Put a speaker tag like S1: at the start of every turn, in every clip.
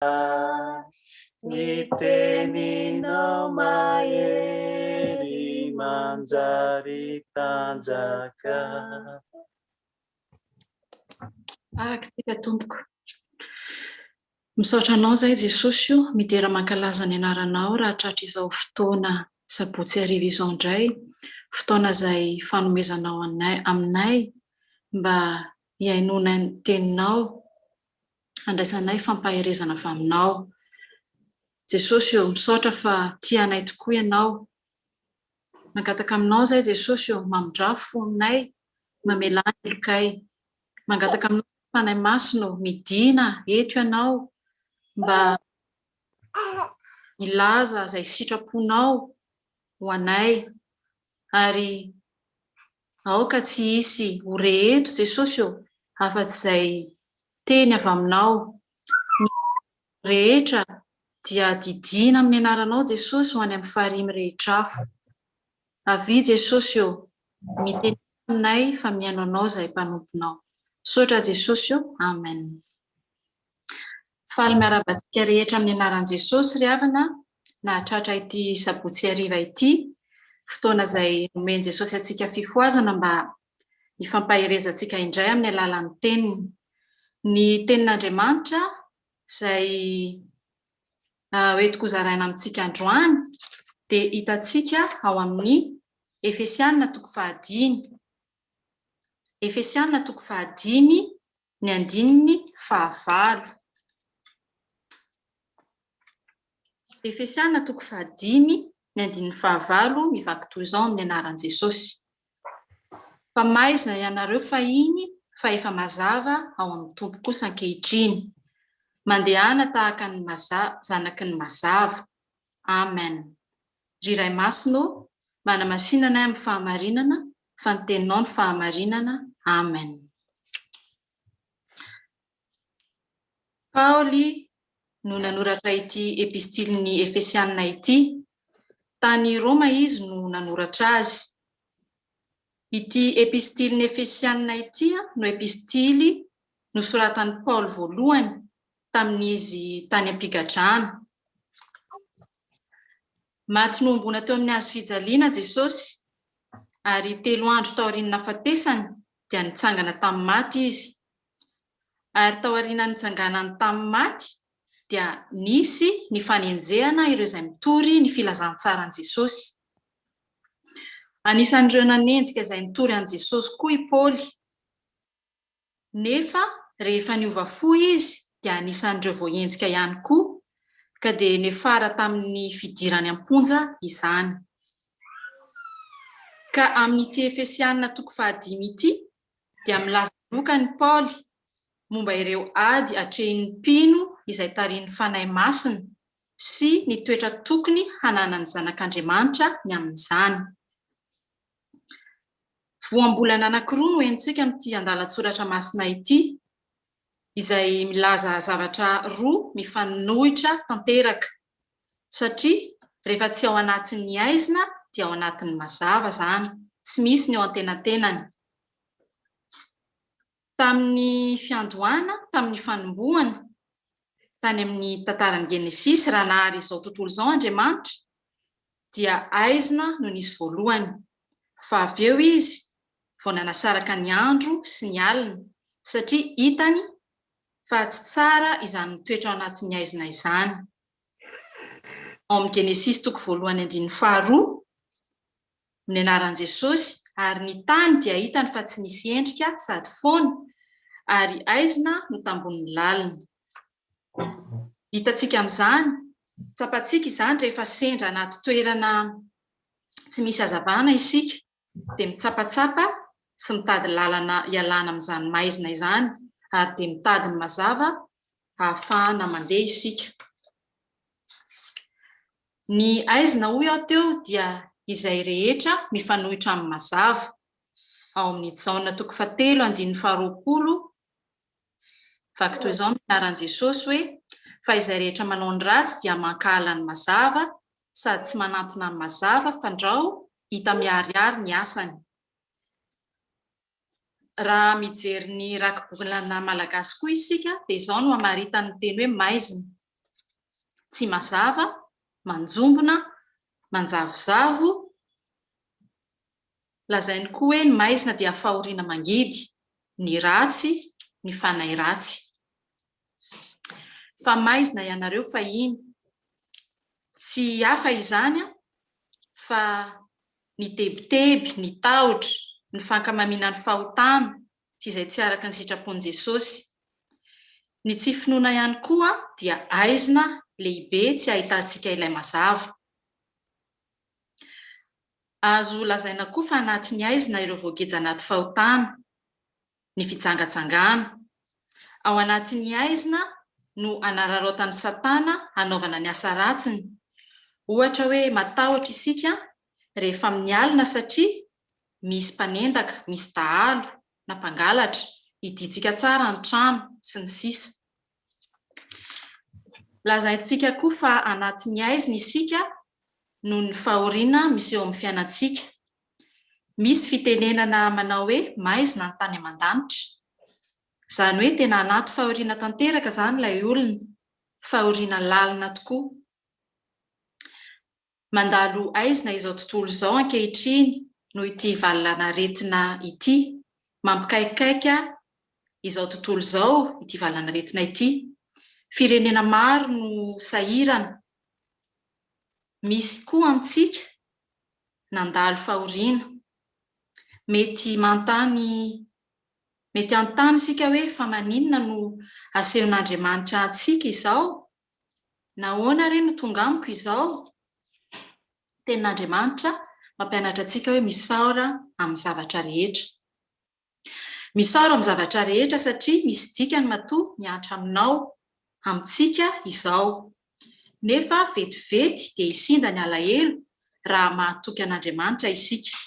S1: Ny teninao mahery manjary tanjaka.
S2: Araka isika tompoko. Misaotra anao zay Jesosy o, midera mankalaza ny anaranao raha tratra izao fotoana sabotsy hariva izao indray, fotoana izay fanomezanao anay, aminay mba hihainoana ny teninao handraisanay fampaherezana avy Aminao. Jesosy ô, misaotra fa tia anay tokoa Ianao. Mangataka Aminao izay Jesosy ô, mamindrafo fononay, mamelà ny helokay. Mangataka Aminao izay Fanahy Masina ô, midìna eto Ianao mba hilaza izay sitraponao ho anay ary Aoka tsy hisy ho re eto, Jesosy ô, afa-tsy izay teny avy Aminao. Ny fahoriana rehetra dia didiana amin'ny Anaranao, Jesosy, ho any amin'ny farihy mirehitra afo. Avia, Jesosy ô, mitenena aminay fa mihaino Anao izahay mpanomponao. Misaotra, Jesosy ô. Amen. Faly miarahaba antsika rehetra amin'ny anaran'i Jesosy ry havana nahatratra ity sabotsy hariva ity, fotoana izay nomen'i Jesosy antsika fifohazana mba hifampaherezantsika indray amin'ny alalan'ny teniny. Ny tenin'Andriamanitra izay hoentiko hozaraina amintsika androany dia hitantsika ao amin'ny Efesiana toko fahadimy. Efesiana toko fahadimy Ny andininy fahavalo. Efesiana toko fahadimy, ny andininy fahavalo mivaky toy izao amin'ny anaran'i Jesosy, Fa maizina ianareo fahiny fa efa mazava ao amin'ny Tompo kosa ankehitriny. Mandehana tahaka ny maza, zanaky ny mazava. Amen. Ry Ray Masina ô, manamasina anay amin'ny fahamarinana fa ny teninao no fahamarinana amen paoly no nanoratra ity epistily ny efesianina ity tany roma izy no nanoratra azy ity epistily ny efesianina ity no epistily nosoratan'i paoly voalohany tamin'izy tany am-pigadrana Maty nohomboana teo amin'ny hazo fijaliana Jesosy, ary telo andro taorian'ny nahafatesany dia nitsangana tamin'ny maty Izy. Ary tao aorianan'ny nitsanganany tamin'ny maty dia nisy ny fanenjehana ireo izay mitory ny filazantsaran'i Jesosy. Anisan'ireo nanenjika izay nitory an'i Jesosy koa i Paoly. nefa rehefa niova fo izy dia anisan'ireo voahenjika ihany koa ka dia niafara tamin'ny fidirany am-ponja izany. Ka amin'ity Efesianina toko fahadimy ity dia milaza manokana i Paoly momba ireo ady atrehin'ny mpino izay tarihin'ny Fanahy Masina sy ny toetra tokony hananan'ny zanak'Andriamanitra ny amin'izany. Voambolana anankiroa no henontsika amin'ity andalan-tsoratra masina ity, izay milaza zavatra roa mifanohitra tanteraka, satria rehefa tsy ao anatin'ny aizina dia ao anatin'ny mazava izany, tsy misy ny eo antenatenany. Tamin'ny fiandohana, tamin'ny fanombohana, tany amin'ny tantaran'ny Genesisy, raha nahary izao tontolo izao Andriamanitra, dia aizina no nisy voalohany, fa avy eo izy vao nanasaraka ny andro sy ny alina, satria hitany fa tsy tsara izany mitoetra ao anatin'ny aizina izany. Ao amin'ny Genesisy toko voalohany andininy faharoa, ny anaran'i Jesosy, ary ny tany dia hitany fa tsy nisy endrika sady foana, ary aizina no tambonin'ny lalina. Hitantsika amin'izany, tsapantsika izany rehefa sendra anaty toerana tsy misy hazavana isika dia mitsapatsapa sy mitady lalana hialana amin'izany maizina izany ary dia mitady ny mazava hahafahana mandeha isika. Ny aizina hoy aho teo dia izay rehetra mifanohitra amin'ny mazava. Ao amin'ny Jaona toko fahatelo andininy faharoapolo Vaky toy izao ny anaran'i Jesosy hoe, Fa izay rehetra manao ny ratsy dia mankahala ny mazava, sady tsy manantona ny mazava, fandrao hita miharihary ny asany. Raha mijery ny rakibolana malagasy koa isika dia izao no hamaritany ny teny hoe maizina, tsy mazava, manjombona, manjavozavo, Lazainy koa hoe ny maizina dia fahoriana mangidy, ny ratsy, ny fanahy ratsy. Fa maizina ianareo fahiny. Tsy hafa izany fa ny tebiteby, ny tahotra, ny fankamamiana ny fahotana sy izay tsy araka ny sitrapon'i Jesosy. Ny tsy finoana ihany koa dia aizina lehibe tsy ahitantsika ilay mazava. Azo lazaina koa fa anatin'ny haizina ireo voageja anaty fahotana, ny fijangajangana. Ao anatin'ny haizina no anararaotan'i Satana hanaovana ny asa ratsiny. Ohatra hoe matahotra isika rehefa amin'ny alina satria misy mpanendaka, misy dahalo na mpangalatra, hidintsika tsara ny trano, sy ny sisa. Lazaintsika koa fa anatin'ny haizina isika noho ny fahoriana miseho amin'ny fiainantsika. Misy fitenenana manao hoe maizina ny tany aman-danitra. Izany hoe tena anaty fahoriana tanteraka izany ilay olona, fahoriana lalina tokoa. Mandalo aizina izao tontolo izao ankehitriny noho ity valan'aretina ity. Mampikaikaika izao tontolo izao ity valan'aretina ity. Firenena maro no sahirana. Misy koa amintsika nandalo fahoriana. Mety manontany, mety hanontany isika hoe fa maninona no asehon'Andriamanitra antsika izao? Nahoana re no tonga amiko izao? Tenin'Andriamanitra mampianatra antsika hoe misaora amin'ny zavatra rehetra. Misaora amin'ny zavatra rehetra satria misy dikany matoa mihatra aminao, amintsika, izao. Nefa vetivety dia hisinda ny alahelo raha mahatoky an'Andriamanitra isika.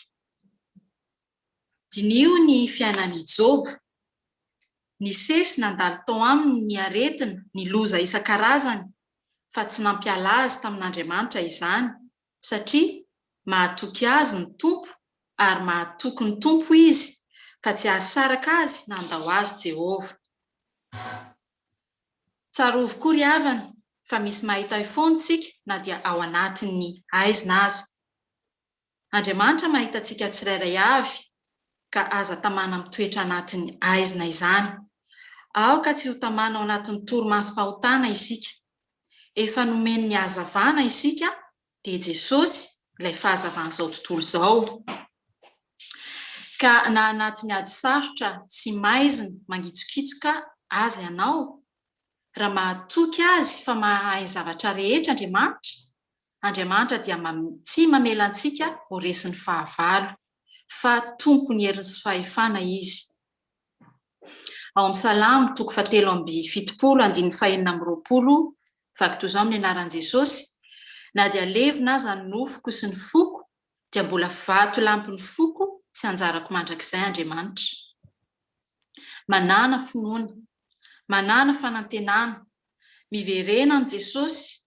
S2: Diniho ny fiainan'i Joba. Nisesy nandalo tao aminy ny aretina, ny loza isan-karazany, fa tsy nampiala azy tamin'Andriamanitra izany, satria mahatoky azy ny Tompo ary mahatoky ny Tompo izy, ka tsy hahasaraka azy na handao azy Jehovah. Tsarovy koa ry havana, fa misy mahita ahy foana isika na dia ao anatin'ny haizina aza. Andriamanitra mahita antsika tsirairay avy ka aza tamana mitoetra anatin'ny aizina izany. Aoka tsy ho tamana ao anatin'ny torimasom-pahotana isika. Efa nomeny ny hazavana isika dia Jesosy ilay fahazavan'izao tontolo izao. Ka na anatin'ny ady sarotra sy maizina mangitsokitsoka aza ianao, raha mahatoky Azy fa mahay ny zavatra rehetra Andriamanitra Andriamanitra dia tsy mamela antsika ho resin'ny fahavalo, fa tompon'ny heriny sy fahefana Izy. Ao amin'ny Salamo toko fahatelo amby fitopolo andininy fahenina amby roapolo, Vaky toy izao amin'ny anaran'i Jesosy, Na dia levona aza ny nofoko sy ny foko, dia mbola vatolampin'ny foko sy anjarako mandrakizay Andriamanitra. Manàna finoana, manàna fanantenana, miverena amin'i Jesosy,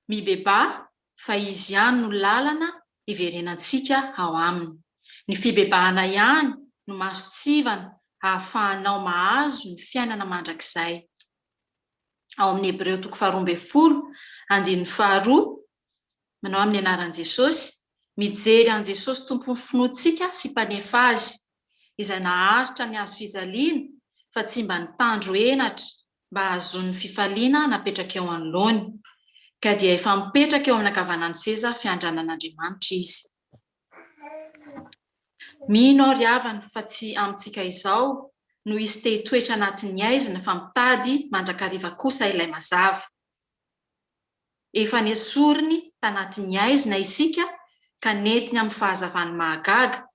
S2: Mibebaha fa Izy ihany no lalana hiverenantsika ao Aminy. Ny fibebahana ihany no masontsivana hahafahanao mahazo ny fiainana mandrakizay. Ao amin'ny Hebreo toko faharoa ambin'ny folo, andininy faharoa, manao amin'ny anaran'i Jesosy, Mijery an'i Jesosy Tompon'ny finoantsika sy Mpanefa azy izay naharitra ny hazo fijaliana fa tsy mba nitandro henatra mba hahazoany ny fifaliana napetraka eo anoloany, ka dia efa mipetraka eo amin'ny ankavanan'ny seza fiandranan'Andriamanitra izy. Mino aho ry havana fa tsy amintsika izao no hisy te hitoetra anatin'ny aizina fa mitady mandrakariva kosa ilay mazava. Efa nesoriny tanatin'ny aizina isika ka nentiny amin'ny fahazavany mahagaga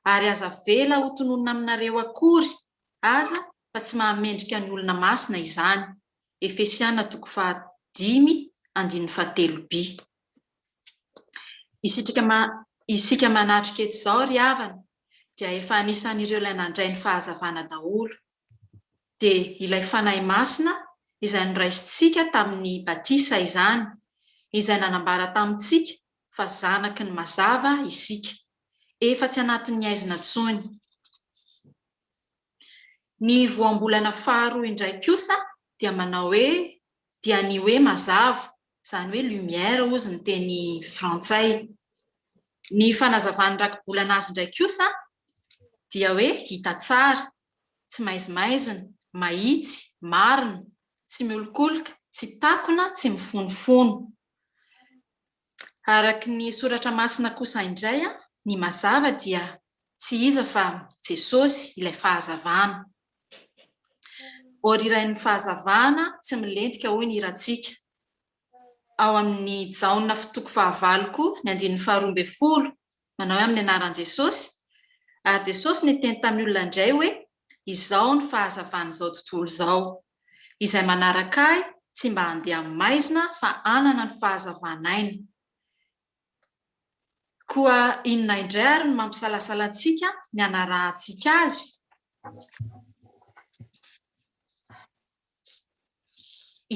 S2: ary aza avela ho tononina aminareo akory aza fa tsy mahamendrika ny olona masina izany, Efesiana toko faha dimy andininy faha telo bi. Isika isika manatrika eto izao ry havana dia efa anisan'ireo ilay nandray ny fahazavana daholo, dia ilay Fanahy Masina izay noraisintsika tamin'ny batisa izany, izay nanambara tamintsika fa zanaky ny mazava isika. efa tsy anatin'ny aizina intsony. Ny voambolana faharoa indray kosa dia manao hoe dia ny hoe mazava, izany hoe lumière hozy ny teny frantsay. Ny fanazavan'ny rakibolana azy indray kosa dia hoe hita tsara, tsy maizimaizina, mahitsy, marina, tsy miolokoloka, tsy takona, tsy mifonofono. Araka ny soratra masina kosa indray, ny mazava dia tsy iza fa Jesosy ilay fahazavana. Orirain'ny fahazavana tsy milentika hoy ny hirantsika. Ao amin'ny Jaona toko fahavalo koa ny andininy faharoa ambin'ny folo Manao hoe amin'ny anaran'i Jesosy. Ary Jesosy niteny tamin'ny olona indray hoe, Izaho ny fahazavan'izao tontolo izao. Izay manaraka Ahy tsy mba handeha amin'ny maizina fa hanana ny fahazavan'aina. Koa inona indray ary no mampisalasala antsika ny hanarahantsika Azy?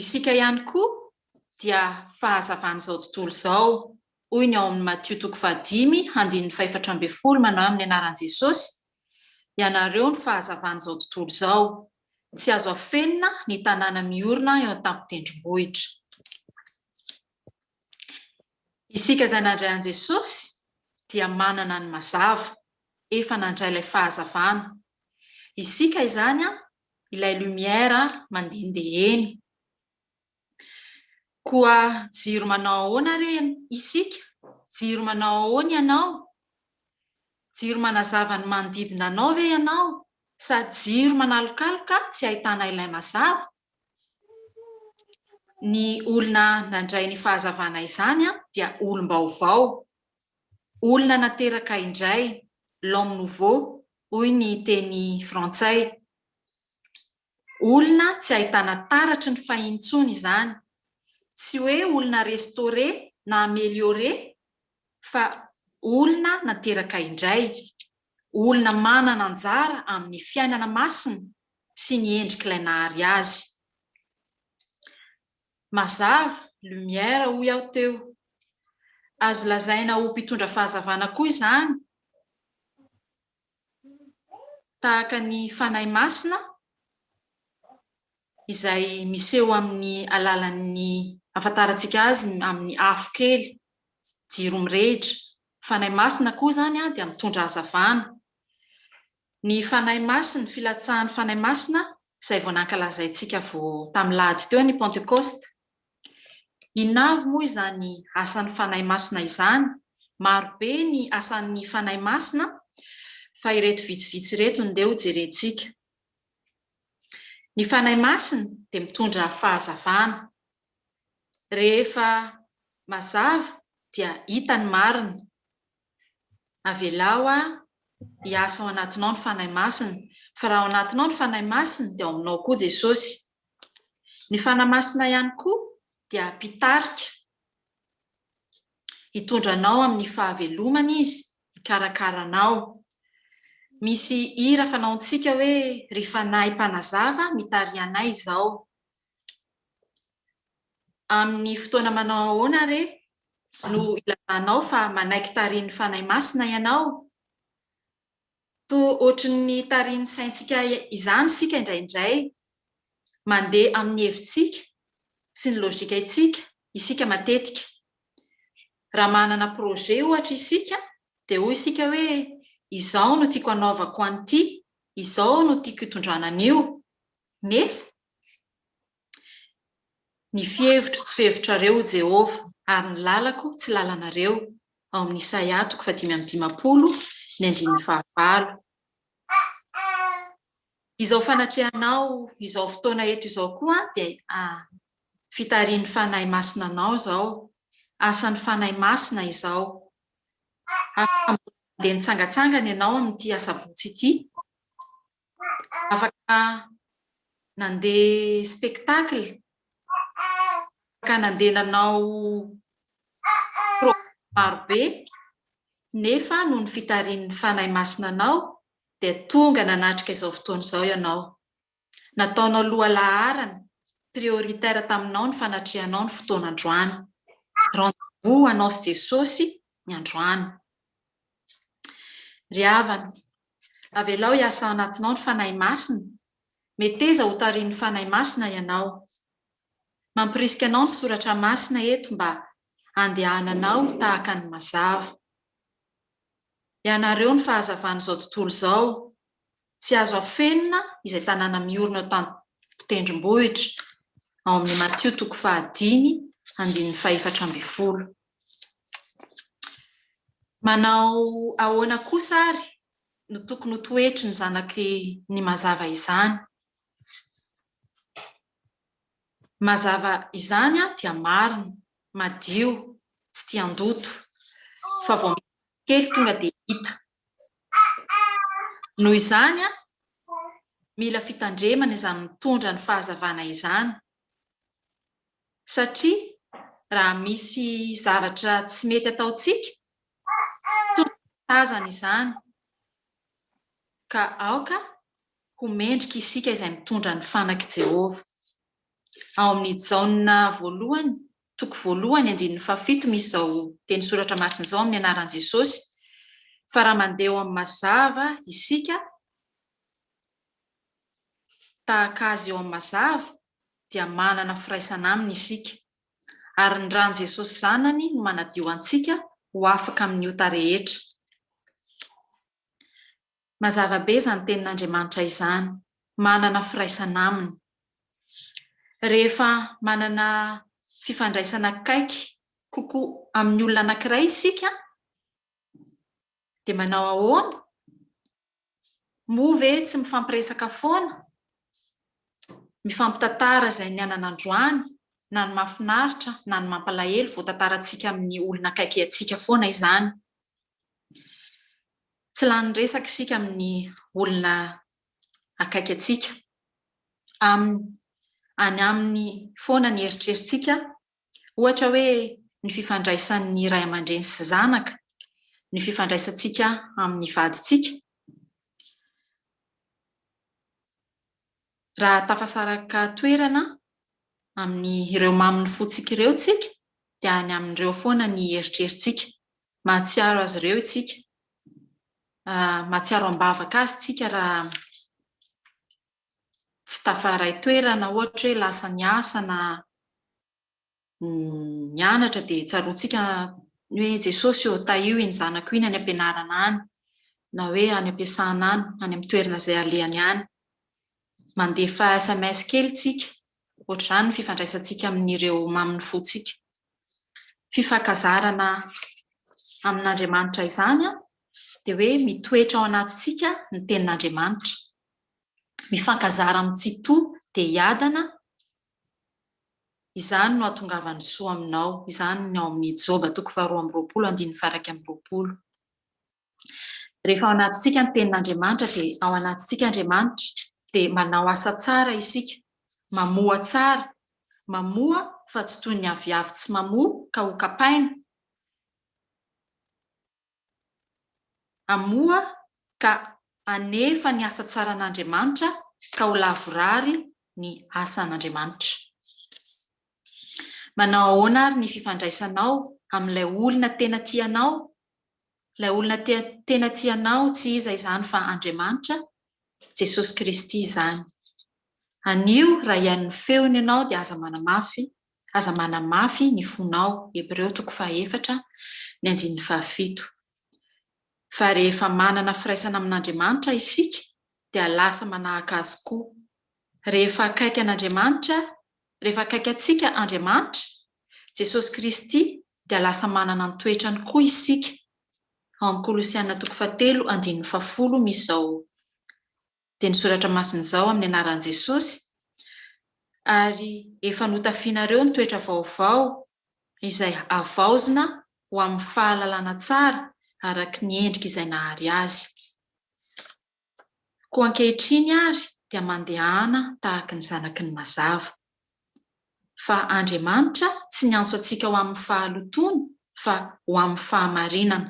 S2: Isika ihany koa dia fahazavan'izao tontolo izao. hoy ny ao amin'ny Matio toko fahadimy handininy fahefatra ambin'ny folo manao hoe amin'ny anaran'i Jesosy ianareo ny fahazavan'izao tontolo izao, tsy azo afenina ny tanàna miorina eo an-tampon-tendrombohitra. Isika izay nandray an'i Jesosy dia manana ny mazava, efa nandray ilay fahazavana. Isika izany ilay lumière mandehandeha eny. Koa jiro manao ahoana re isika? Jiro manao ahoana ianao? Jiro manazava ny manodidina anao ve ianao sa jiro manalokaloka tsy ahitana ilay mazava? Ny olona nandray ny fahazavana izany dia olom-baovao, olona nateraka indray, l'homme nouveau, hoy ny teny frantsay. Olona tsy ahitana taratry ny fay intsony izany. Tsy hoe olona restaurer na ameliorer fa olona nateraka indray, olona manana anjara amin'ny fiainana masina sy ny endrik'ilay nahary azy. Mazava, lumière, hoy aho teo. Azo lazaina ho mpitondra fahazavana koa izany. tahaka ny Fanahy Masina izay miseho amin'ny alalan'ny ahafantarantsika azy amin'ny afo kely, jiro mirehitra. Fanahy Masina koa izany dia mitondra hazavana. Ny Fanahy Masina, filatsahan'ny Fanahy Masina izay vao nankalazaintsika vao tamin'ny lahady teo ny Pantekôsta. Inona avy moa izany asan'ny Fanahy Masina izany? Maro be ny asan'ny Fanahy Masina fa ireto vitsivitsy ireto no ndeha hojerentsika. Ny Fanahy Masina dia mitondra fahazavana. Rehefa mazava dia hita ny marina. Avelao aho hiasa ao anatinao ny Fanahy Masina, fa raha ao anatinao ny Fanahy Masina dia ao aminao koa Jesosy. Ny Fanahy Masina ihany koa dia mpitarika. Hitondra anao amin'ny fahavelomana Izy, hikarakara anao. Misy hira fanaontsika hoe, Ry Fanahy Mpanazava, mitariha anay izao. Amin'ny fotoana manao ahoana re no ilazanao fa manaiky tarihin'ny Fanahy Masina ianao? Toa hoatran'ny tarihin'ny saintsika izany isika indraindray. Mandeha amin'ny hevitsika sy ny logikaintsika isika matetika. Raha manana projet ohatra isika dia hoy isika hoe izao no tiako hanaovako an'ity, izao no tiako hitondrana an'io. Nefa. Ny fihevitro tsy fihevitrareo, O Jehovah, ary ny lalako tsy lalanareo. Ao amin'ny Isaia toko fahadimy amby dimampolo, ny andininy fahavalo. Izao fanatrehanao izao fotoana eto izao koa dia fitarihin'ny Fanahy Masina anao izao. Asan'ny Fanahy Masina izao. Afaka mandeha nitsangatsangana ianao amin'ity Asabotsy ity. afaka nandeha spectacle, afaka nandeha nanao programme marobe, nefa noho ny fitarihin'ny Fanahy Masina anao dia tonga nanatrika izao fotoana izao ianao. Nataonao lohalaharana, prioritaire taminao ny fanatrehanao ny fotoana androany. Rendez-vous ho anao sy Jesosy ny androany. Ry havana, Avelao hiasa ao anatinao ny Fanahy Masina, meteza ho tarihin'ny Fanahy Masina ianao. Mampirisika anao ny Soratra Masina eto mba handehananao tahaka ny mazava. Ianareo ny fahazavan'izao tontolo izao, tsy azo afenina izay tanàna miorina eo tan-tendrombohitra, ao amin'ny Matio toko fahadimy andininy fahefatra ambin'ny folo. Manao ahoana kosa ary no tokony ho toetry ny zanaky ny mazava izany? Mazava izany dia marina, madio, tsy tia handoto, fa vao miha kely tonga dia hita. Noho izany, mila fitandremana izany mitondra ny fahazavana izany satria raha misy zavatra tsy mety ataontsika tonga dia tazana izany ka aoka ho mendrika isika izay mitondra ny fanak'i Jehovah. Ao amin'ny Jaona voalohany toko voalohany andininy fahafito misy izao teny soratra masina izao amin'ny anaran'i Jesosy fa raha mandeha ao amin'ny mazava isika tahaka azy eo amin'ny mazava dia manana firaisana aminy isika, ary ny ran'i Jesosy Zanany no manadio antsika ho afaka amin'ny ota rehetra. Mazava be izany tenin'Andriamanitra izany, manana firaisana aminy. Rehefa manana fifandraisana akaiky kokoa amin'ny olona anankiray isika dia manao ahoana? Moa ve tsy mifampiresaka foana? Mifampitantara izay nianana androany, na ny mahafinaritra na ny mampalahelo vao tantarantsika amin'ny olona akaiky antsika foana izany. Tsy lany resaka isika amin'ny olona akaiky antsika. Aminy, any aminy foana ny eritreritsika Ohatra hoe ny fifandraisan'ny ray aman-dreny sy zanaka, ny fifandraisantsika amin'ny vadintsika. Raha tafasaraka toerana amin'ny ireo mamin'ny fontsika ireo isika dia any amin'ireo foana ny eritreritsika. Mahatsiaro azy ireo isika, mahatsiaro am-bavaka azy isika raha tsy tafaray toerana ohatra hoe lasa niasa na nianatra dia tsaroantsika ny hoe Jesosy ô tahio iny zanako iny any am-pianarana any na hoe any am-piasana any, any amin'ny toerana izay alehany any. Mandefa sms kely isika, ohatr'izany ny fifandraisantsika amin'ireo mamin'ny fontsika. Fifankazarana amin'Andriamanitra izany dia hoe mitoetra ao anatintsika ny tenin'Andriamanitra. mifankazara amin'ny tsitoha dia hiadana, izany no hahatongavan'ny soa aminao, izany ny ao amin'ny Joba toko faharoa amby roapolo andininy faha-iraika amby roapolo. Rehefa ao anatintsika ny tenin'Andriamanitra dia ao anatintsika Andriamanitra dia manao asa tsara isika, mamoa tsara, mamoa fa tsy toy ny aviavy tsy mamoa ka ho kapaina, Amoa ka anefa ny asa tsaran'Andriamanitra ka ho lavorary ny asan'Andriamanitra. Manao ahoana ary ny fifandraisanao amin'ilay olona tena tianao? Ilay olona tena tianao tsy iza izany fa Andriamanitra, Jesosy Kristy izany. Anio raha hihaino ny feony ianao dia aza manamafy Aza manamafy ny fonao, Hebreo toko fahaefatra, ny andininy fahafito. Fa rehefa manana firaisana amin'Andriamanitra isika dia lasa manahaka Azy koa. Rehefa akaiky an'Andriamanitra, rehefa akaiky antsika Andriamanitra, Jesosy Kristy, dia lasa manana ny toetrany koa isika. Ao amin'ny Kolosiana toko fahatelo andininy fahafolo misy izao dia ny soratra masina izao amin'ny anaran'i Jesosy, ary efa notafianareo ny toetra vaovao izay havaozina ho amin'ny fahalalana tsara araka ny endrika izay nahary azy. Koa ankehitriny ary dia mandehana tahaka ny zanaky ny mazava. Fa Andriamanitra tsy niantso antsika ho amin'ny fahalotoana fa ho amin'ny fahamarinana.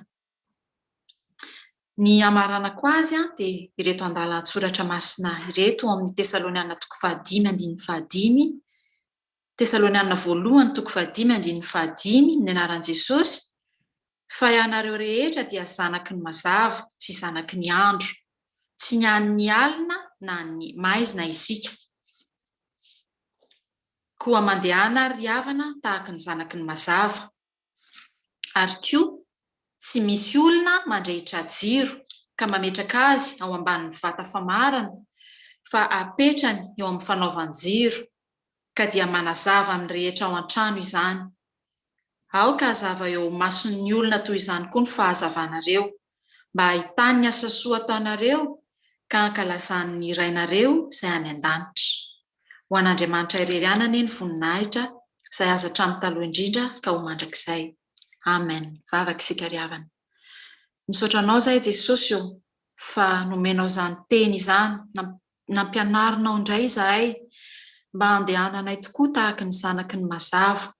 S2: Ny hamaranako azy dia ireto andalan-tsoratra masina ireto ao amin'ny Tesaloniana toko fahadimy andininy fahadimy, Tesaloniana voalohany toko fahadimy andininy fahadimy, ny anaran'i Jesosy, fa ianareo rehetra dia zanaky ny mazava sy zanaky ny andro, tsy ny an'ny alina na an'ny maizina isika. Koa mandehana ary ry havana tahaka ny zanaky ny mazava. ary koa tsy misy olona mandrehitra jiro ka mametraka azy ao ambanin'ny vata famarana fa apetrany eo amin'ny fanaovan-jiro ka dia manazava amin'ny rehetra ao an-trano izany. Aoka hazava eo mason'ny olona toy izany koa ny fahazavanareo. mba hahitany ny asa soa ataonareo ka hankalazany ny Rainareo izay any an-danitra. Ho an'Andriamanitra irery ihany anie ny voninahitra izay azo hatramin'ny taloha indrindra ka ho mandrakizay. Amen. Vavaka isika ry havana. Misaotra Anao izahay Jesosy ô fa nomenao izany Teny izany, nampianarinao indray izahay mba handehananay tokoa tahaka ny zanaky ny mazava.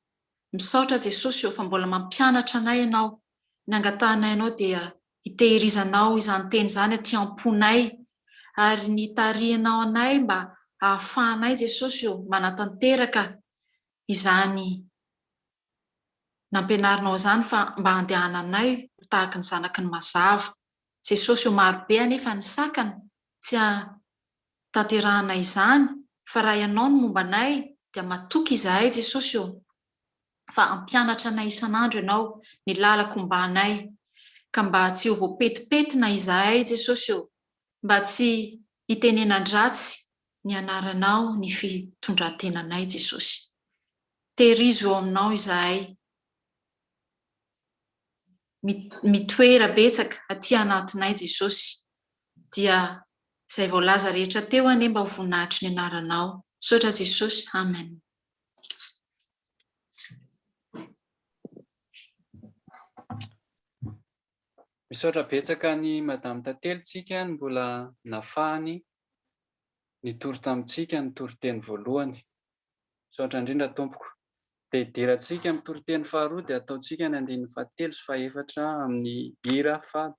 S2: Misaotra Jesosy ô fa mbola mampianatra anay Ianao ny angatahanay anao dia hitehirizanao izany teny izany aty am-ponay ary ny hitarihanao anay mba hahafahanay Jesosy ô manatanteraka izany nampianarinao izany fa mba handehananay ho tahaka ny zanaky ny mazava Jesosy ô maro be anefa ny sakana tsy hahatanterahanay izany fa raha ianao no momba anay dia matoky izahay Jesosy ô. fa hampianatra anay isan'andro Ianao, ny lalako mba anay, ka mba tsy ho voapetipetina izahay Jesosy ô, mba tsy hitenenan-dratsy ny Anaranao ny fitondran-tenanay Jesosy. Tehirizo eo Aminao izahay, mitoera betsaka aty anatinay Jesosy, dia izay voalaza rehetra teo anie mba ho voninahitry ny Anaranao. Misaotra Jesosy. Amen.
S1: Misaotra betsaka an'i Madame Tantely tsika ny mbola nafahany nitory tamintsika ny toriteny voalohany. Misaotra indrindra Tompoko. Dia idirantsika amin'ny toriteny faharoa dia ataontsika ny andininy fahatelo sy fahefatra amin'ny hira faha.